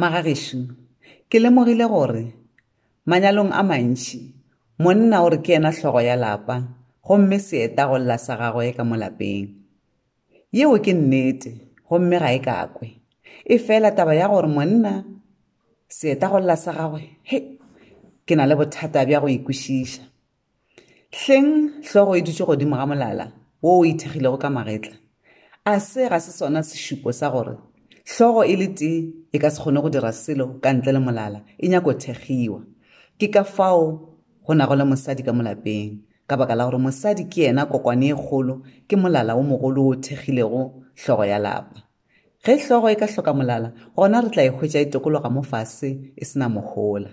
Magagešo, ke lemogile gore manyalong a mantši monna o re ke yena hlogo ya lapa gomme seeta go lla sa gagwe ka mo lapeng. Yeo ke nnete gomme ga e kakwe. Efela taba ya gore monna seeta go lla sa gagwe, hei, ke na le bothata bja go e kwešiša. Hleng hlogo e dutše godimo ga molala wo o ithekgilego ka magetla? A se ga se sona sešupo sa gore hlogo e le tee e ka se kgone go dira selo ka ntle le molala, e nyaka go thekgiwa? Ke ka fao go nago le mosadi ka molapeng, ka baka la gore mosadi ke yena kokwane e kgolo, ke molala wo mogolo wo o thekgilego hlogo ya lapa. Ge hlogo e ka hloka molala, gona re tla e hwetša e tokologa mo fase e se na mohola.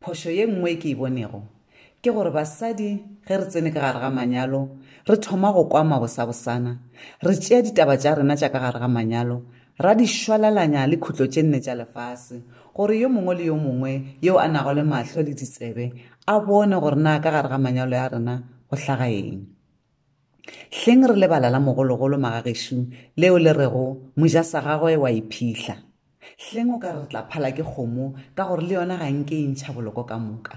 Phošo ye nngwe e ke e bonego ke gore basadi ge re tsene ka gare ga manyalo re thoma go kwa mabosabosana, re tšea ditaba tša rena tša ka gare ga manyalo ra di šwalalanya le khutlo tše nne tša lefase gore yo mongwe le yo mongwe yo a nago le mahlo le ditsebe a bone gore na ka gare ga manyalo ya rena go hlaga eng. Hleng re lebala la mogologolo magagešo leo le rego, Moja sa gagwe wa e phihla. Hleng o ka re re tla phala ke kgomo ka gore le yona ga nke e ntšha boloko ka moka.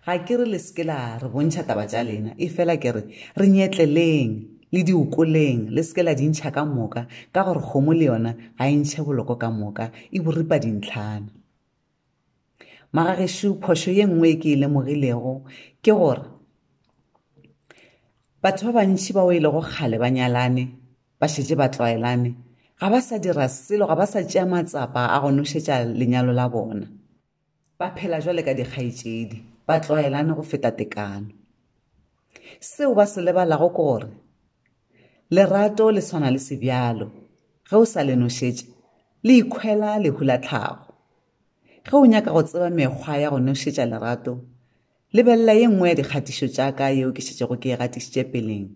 Ga ke re le se ke la re bontšha taba tša lena, efela ke re, re nyetleleng, le di okoleng, le se ke la di ntšha ka moka, ka gore kgomo le yona ga e ntšhe boloko ka moka, e bo ripa dintlhana. Magagešo phošo ye nngwe e ke e lemogilego ke gore batho ba bantši bao e lego kgale ba nyalane ba šetše ba tlwaelane ga ba sa dira selo ga ba sa tšea matsapa a go nošetša lenyalo la bona ba phela jwale ka dikgaetšedi ba tlwaelane go feta tekano Seo ba se lebalago ke gore lerato le swana le sebjalo, ge o sa le nošetše le ikhwela lehu la tlhago. Ge o nyaka go tseba mekgwa ya go nošetša lerato, lebelela ye nngwe ya dikgatišo tša ka yeo ke šetšego ke e gatišitše peleng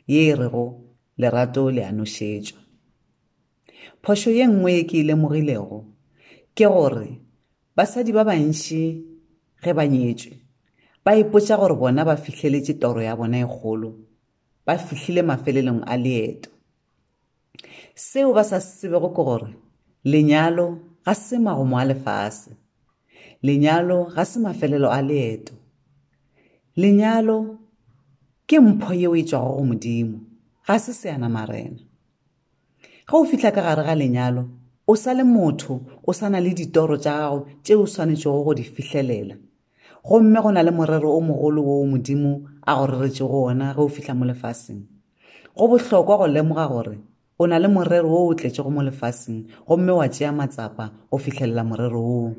ye e rego lerato le a nošetšwa. Phošo ye nngwe ye ke e lemogilego ke gore Basadi ba bantši ge ba nyetšwe ba ipotša gore bona ba fihleletše toro ya bona e kgolo, ba fihlile mafelelong a leeto. Seo ba sa se tsebego ke gore lenyalo ga se magomo a lefase. Lenyalo ga se mafelelo a leeto. Lenyalo ke mpho yeo e tšwago go Modimo, ga se seanamarena. Ge o fihla ka gare ga lenyalo, o sa le motho, o sa na le ditoro tša gago tše o swanetšego go di fihlelela. Gomme go na le morero o mogolo woo Modimo a go reretšego wona ge o fihla mo lefaseng. Go bohlokwa go lemoga gore o na le morero wo o tletšego mo lefaseng gomme wa tšea matsapa go fihlelela morero woo.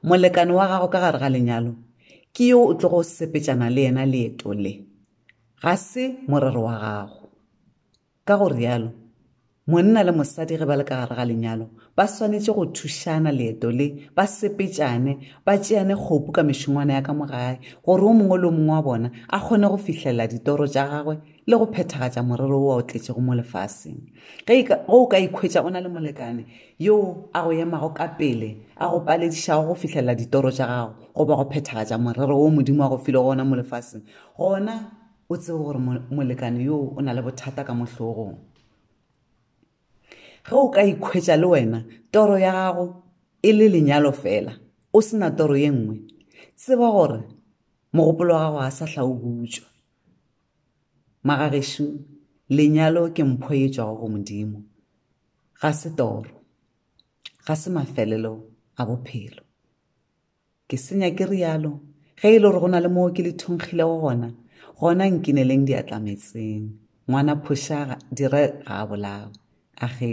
Molekane wa gago ka gare ga lenyalo ke yo o tlogo sepetšana le yena leeto le, ga se morero wa gago. Ka go realo, monna le mosadi ge ba le ka gare ga lenyalo ba swanetše go thušana leeto le, ba sepetšane, ba tšeane kgopu ka mešongwana ya ka mo gae gore o mongwe le o mongwe wa bona a kgone go fihlelela ditoro tša gagwe le go phethagatša morero wo o tletšego mo lefaseng. Ge e ka, ge o ka ikhwetša o na le molekane yo a go emago ka pele a go paledišago go fihlelela ditoro tša gago goba go phethagatša morero wo Modimo a go filego wona mo lefaseng, gona o tsebe gore molekane yoo o na le bothata ka mohlogong ge o ka ikhwetša le wena toro ya gago e le lenyalo fela o se na toro ye nngwe tseba gore mogopolo wa gago ga sa hla o butswa magagešu lenyalo ke mpho e tswago go modimo ga se toro ga se mafelelo a bophelo Ke senya ke rialo, ge e le gore go na le moo ke le thongkgilego gona, gona nkineleng diatla metseng. Ngwana phošaga, dire ga a bolawe. Age.